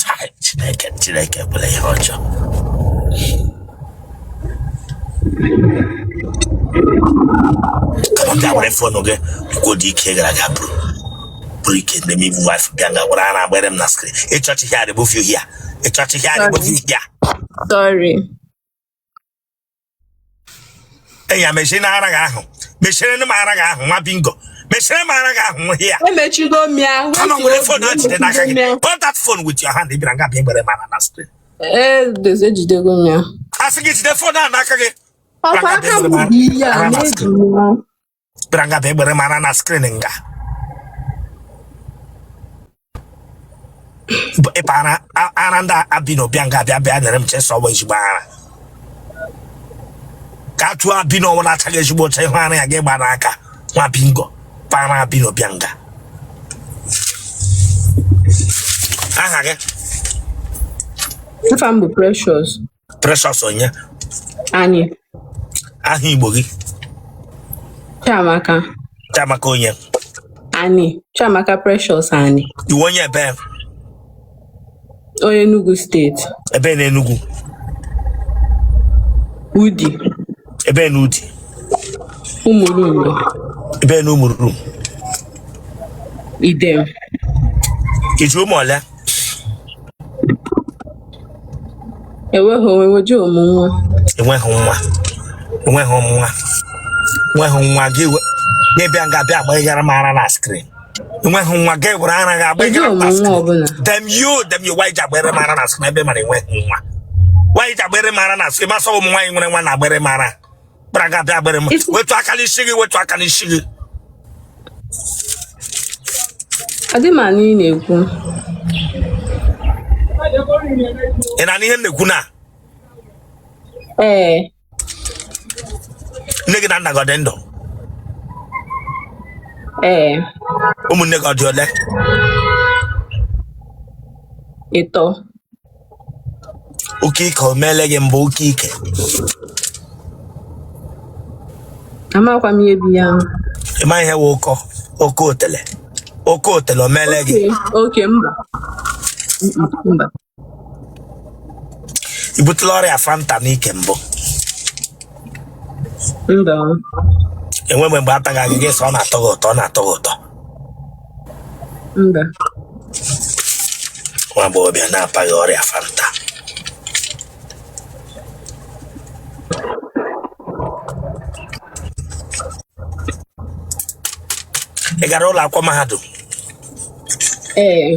Chai, Chineke Chineke ekwela ihe ọjọọ come on were fọnụ gị kwuo dị ike gara aga bụrụ bụrụ ike ndị m ibu wife bịa nga gwara ara agbere m na skrin ịchọchị ihe adịbụ fiu hia ịchọchị ihe adịbụ fiu hia Sorry. ya mechie na ara gị ahụ mechire m ara gị ahụ nwa bingo mechire m ara gị ahụ nwa hia emechigo m ya come on were fon a jide n'aka gị hold that phone with your hand ị bịara nga bịa gbere m ara na screen ejidego m ya a sị gị jide fon a n'aka gị ọ kwa aka m bụ ihe a na-eji bịara nga bịa gbere m ara na skrin nga ị para ara ndị albino bịa nga bịa nyere m chee sị ọ wụ ezigbo ara ka a tụọ albino nwa na-achaghị ezigbo ọcha ị hụ ara ya gị gba n'aka nwa bingo para albino bịa nga aha gị Afa m bụ Precious. Precious onye Ani aha Igbo gị Chiamaka Chiamaka onye Ani Chiamaka Precious Ani ị wụ onye ebee onye Enugu steeti ebee na Enugu Udi ebee na Udi Umulumgbe ebee na Umulumgbe Edem i ji ụmụ ole enweghị oweweji ụmụ nwa enweghị nwa enweghị nwa i nweghị nwa gị we- gị bịa nga bịa agbaara m ara na skrin i nweghị nwa gị were ara gị eji agbaghara m ụmụ na nwa skrin ọbụla damn you damn you why i ji agbere m ara na skrin ebe ị mara i nweghị nwa why i ji agbere m ara na skrin ma sọ ụmụ nwaanyị nwere nwa na-agbere m ara gbara gị abịa gbere m wetu aka n'isi gị wetu aka n'isi gị adị m anụ ihe ị na-ekwu ị na-anụ ihe m na-ekwu now ee nne gị na nna gị ọ dị ndụ ee ụmụnne gị ọ dị ole ịtọ ọkọ ike o meele gị mbụ ọkọ ike amakwa m ihe bụ ya ahụ ị ma ihe wụ ọkọ otele ọkọ otele o meele gị ọkọ mba mba i butela ọrịa fanta n'ike mbụ mba enwe mgbe mgbe ataghị gị gị sị ọ na-atọ gị ụtọ ọ na-atọ gị ụtọ mba nwa agbọghọbịa na-apaghị ọrịa fanta ị gara ụlọ akwụkwọ mahadum ee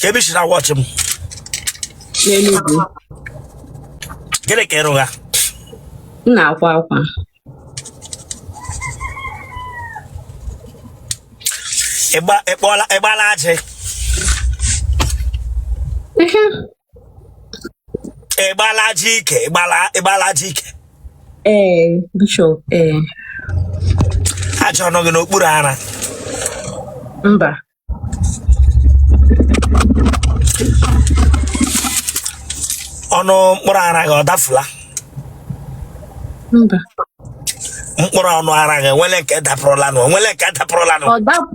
kee ebe i si na-watch m Enugu gịnị ka ị rụgha m na-akwa akwa ịgba ịkpọla ịgbala ajị Ehe, ịgbala ajị ike ịgbala ịgbala ajị ike ee bishop ee ajị ọ nọ gị n'okpuru ara mba ọnụ mkpụrụ ara gị ọ dafula mba mkpụrụ ọnụ ara gị enwele nke dapụrụlanụ enwele nke dapụrụlanụ ọ dapụ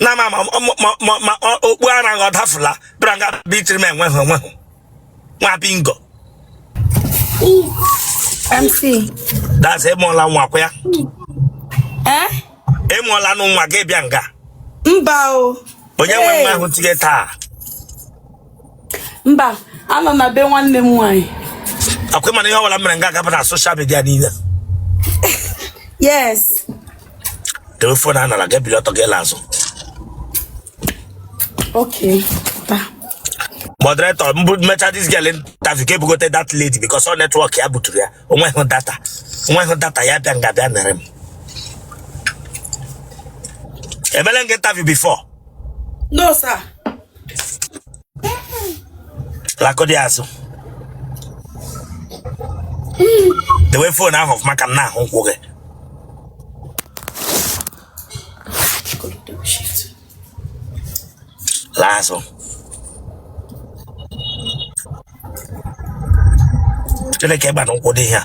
na ma ma ma ma okpu ara ọ dafula bịara nga bitiri m enweghị onweghị nwa bingo MC. That's ịmụọla nwa kwa ya. Eh? Ịmụọla nụ nwa gị bịa nga. Mba o. Onye nwe nwa ahụ tinye taa. Mba, anọ m na be nwanne m nwaanyị. Akwa ị ma na ihe ọbụla mere nga a ga-aba na social media niile. Yes. debe phone a n'ala gị bili ọtọ gị laa azụ okay moderator m mecha this girl interview ka e bugote that lady because ọ network ya buturu ya onweghị data onweghị data ya bịa nga bịa mere m emele m gị interview before no sir lakọdị azụ dewe phone ahụ ọfụma ka m na-ahụ ụkwụ gị laa azụ gịnị ka ị gba n'ụkwụ dị ihe a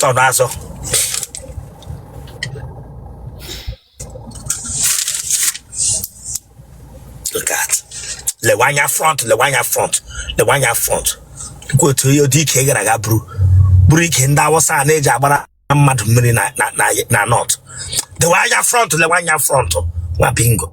Turn azụ. Look at. Lewe anya front, lewe anya front, lewe anya front. Kwa tu ihe ụdị ike gara ga buru. Buru ike ndị Awụsa na-eji agbara mmadụ mmiri na na na na north. Lewe anya front, lewe anya front. Nwa bingo.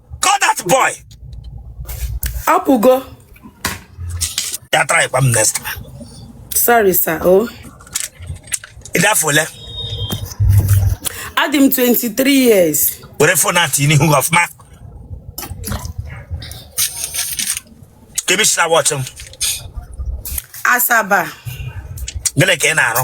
call that boy apụgo ya try kwa m next time sorry sir o ị dị afọ ole adị m 23 years were phone a tinye n'ihu gị ọfụma kee ebe i si na-watch m Asaba gịnị ka ị na-arụ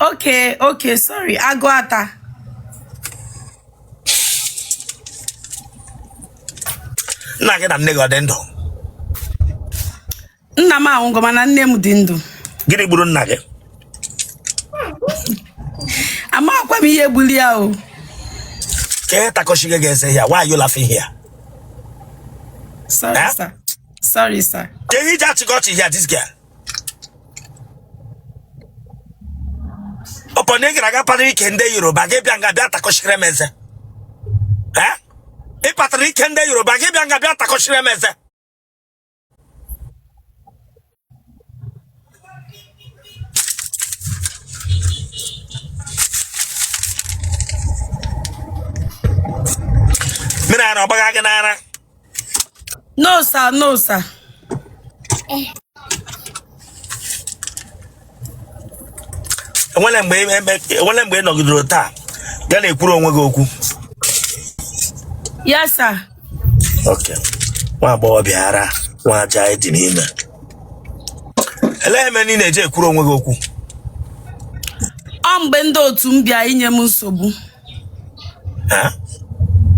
Okay, okay, sorry. Agụata. nna gị na nne gị ọ dị ndụ Nna m anwụgo mana nne m dị ndụ. gịnị gburu nna gị Amakwa m ihe gburu ya o. kee ihe takọchigo gị eze here why are you laughing here Sorry, Eh? sir. Sorry, sir. kee ihe i ji achịkọ ọchị here this girl ọpọ na ị gara aga patara ike ndị yoruba gị bịa nga bịa takọchiri m eze Eh? ị patara ike ndị yoruba gị bịa nga bịa takọchiri m eze mmiri ara ọ gbaga gị n'ara No sir, no sir. enwere mgbe ebe- enwere mgbe ị nọgidere taa ya na-ekwuru onwe gị okwu Yes sir. Okay. nwa agbọghọ bịara nwa aja anyị dị n'ime elee ihe mere ị na-eji ekwuru onwe gị okwu Ọ mgbe ndị otu m bịa inye m nsogbu. Ha?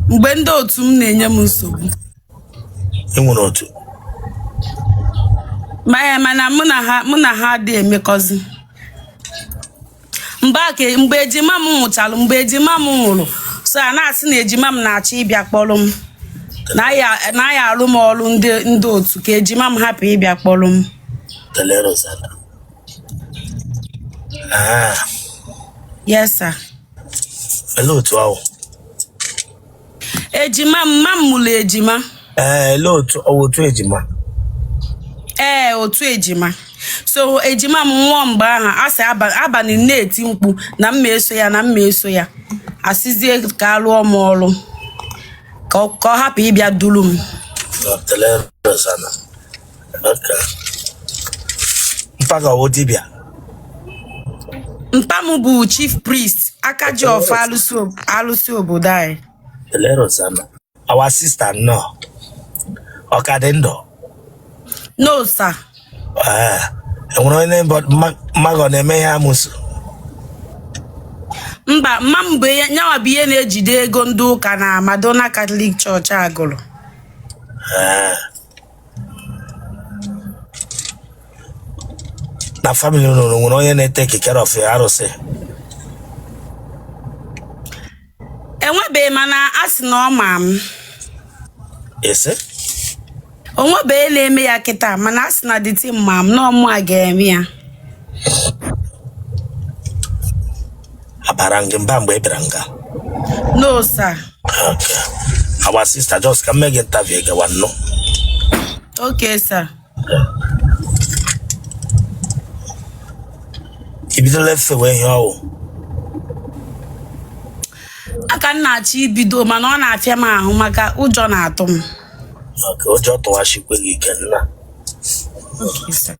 mgbe ndị otu m na-enye m nsogbu Ị nwere otu. maya mana mụ na ha mụ na ha adị emekọzi mgbe a ka- mgbe ejima m nwụchalụ mgbe ejima m nwụrụ so a na-asị na ejima m na-achọ ịbịa kpọrọ m na ya na ya arụ m ọrụ ndị ndị otu ka ejima m hapụ ịbịa kpọrọ m Elerozana. Ah, yes sir Olee otu ahụ? ejima mma m mụrụ ejima Ee, olee otu ọ wụ otu ejima? ee otu ejima so ejima m nwụọ mgbe ahụ a sị abalị m na-eti mkpu na m ma eso ya na m ma eso ya a sịzie ka a lụọ m ọrụ ka ọ ka ọ hapụ ịbịa duru m Elerozana. mpa gị ọ wụ dibịa mpa m bụ chief priest aka ji ọfọ alụsị ob- alụsị obodo anyị elerozana our sister nnọọ ọ ka dị ndụ no sir Ee, enwere onye mbọ- mma- mma gị ọ na-eme ihe amụsụ mba mma m bụ ihe nyawa bụ ihe na-ejide ego ndị ụka na Madonna Catholic Church Agụlụ Ee, na family unu nwere onye na-etake care of arụsị enwebeghị mana a sị na ọ ma m ese o nwebeghị na-eme ya kịta mana a sị na deity ma m na ọ mụa ga-eme ya abara m gị mba mgbe ị bịara nga No, sir. Okay. our sister just ka m mee gị interview gawa nnụ Okay, sir. i bidola efewe ihe ọ wụ Aka m na-achọ ibido mana ọ na-afịa m ahụ maka ụjọ na-atụ m. Okay, ụjọ tụwasikwe gị ike nna Okay, sir.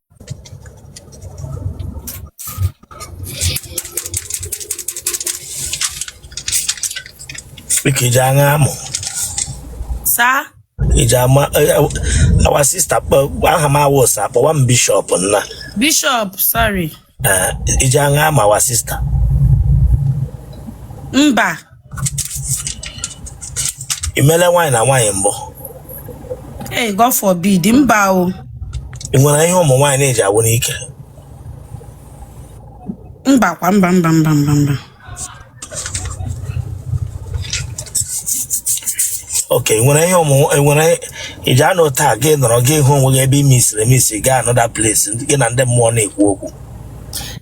Biko iji aṅa amụ saa iji ama eh, eh, our sister kpọ- aha m awụsa kpọwa m bishọp nna bishọp sorry Eh, iji aṅa ama our sister mba i meele nwaanyị na nwaanyị mbụ Hey, God forbid, mba o. ị nwere ihe ụmụ nwaanyị na-eji agwụ n'ike Mba kwa mba mba mba mba mba. okay ị nwere ihe ụmụ ị nwere ị ji anọta gị nọrọ gị hụ onwe gị ebe i misiri emisi gaa another place gị na ndị mmụọ na-ekwu okwu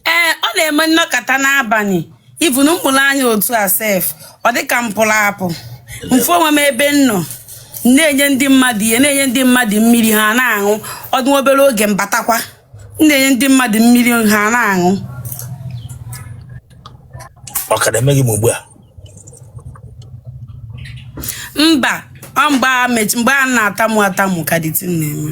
Ee, ọ na-eme m nọkata n'abalị. Even m mụrụ anya otu a sef ọ dị ka m pụrụ apụ m fụ onwe m ebe m nọ na-enye ndị mmadụ ihe na-enye ndị mmadụ mmiri ha na-aṅụ ọ dị obere oge m batakwa na-enye ndị mmadụ mmiri ha na-aṅụ ọ ka na-eme gị ugbu a mba ọ mgbe a mgbe a na-atamu atamu ka deity na-eme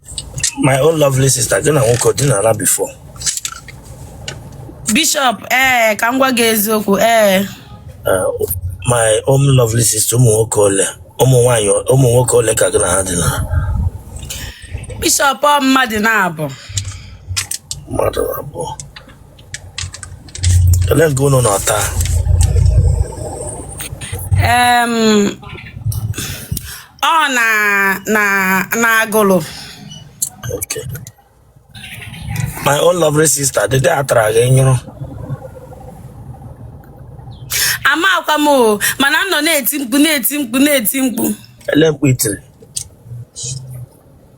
my own lovely sister gị na nwoke ọ dinara before Bishop ee ka m gwa gị eziokwu ee Eh, my own lovely sister ụmụ nwoke ole ụmụ nwaanyị ụmụ nwoke ole ka gị na ha dinara Bishop ọ mmadụ naabọ mmadụ abụọ ole nga unu nọ taa Em, ọ na na na Agụlụ Okay. My own lovely sister, the day I try again, you know. amakwa m o mana m nọ na-eti mkpu na-eti mkpu na-eti mkpu Ele mkpu i tiri.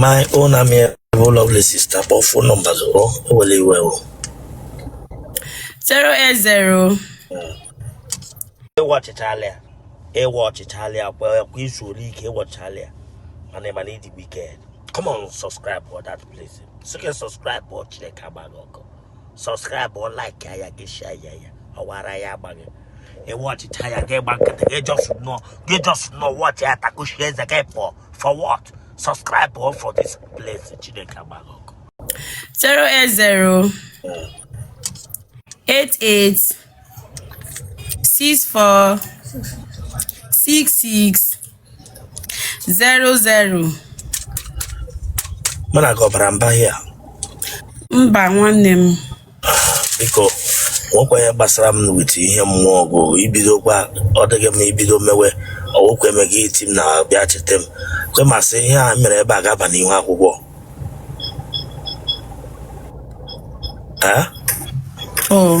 my own amiable lovely sister kpọọ phone number zụrụ ewele iwe o 080 ị watchịchala ya ị watchịchala ya kwa kwa i zuole ike ị watchịchala ya mana ị ma na ị dị wicked come on subscribe for that place sị gị subscribe for Chineke agba gị ọkụ subscribe or like ya gị share ya ya ọ wụ ara ya-agba gị ị watchịcha ya gị gba nkịtị gị just nọ watch ya takuchie eze gị pụọ for what subscribe o for this place chineke agba gị ọkụ 080 88 64 66 zero zero mụ na gị ọbara mba hia mba nwanne m biko nwekwa ihe gbasara m with ihe mmụọ ọgụ ibidokwa ọ dịghị m ibido mewe ọ wụkwa eme gị iti m na bịa cheta m kwe ma sị ihe a mere ebe a ga-aba n'ihu akwụkwọ ee o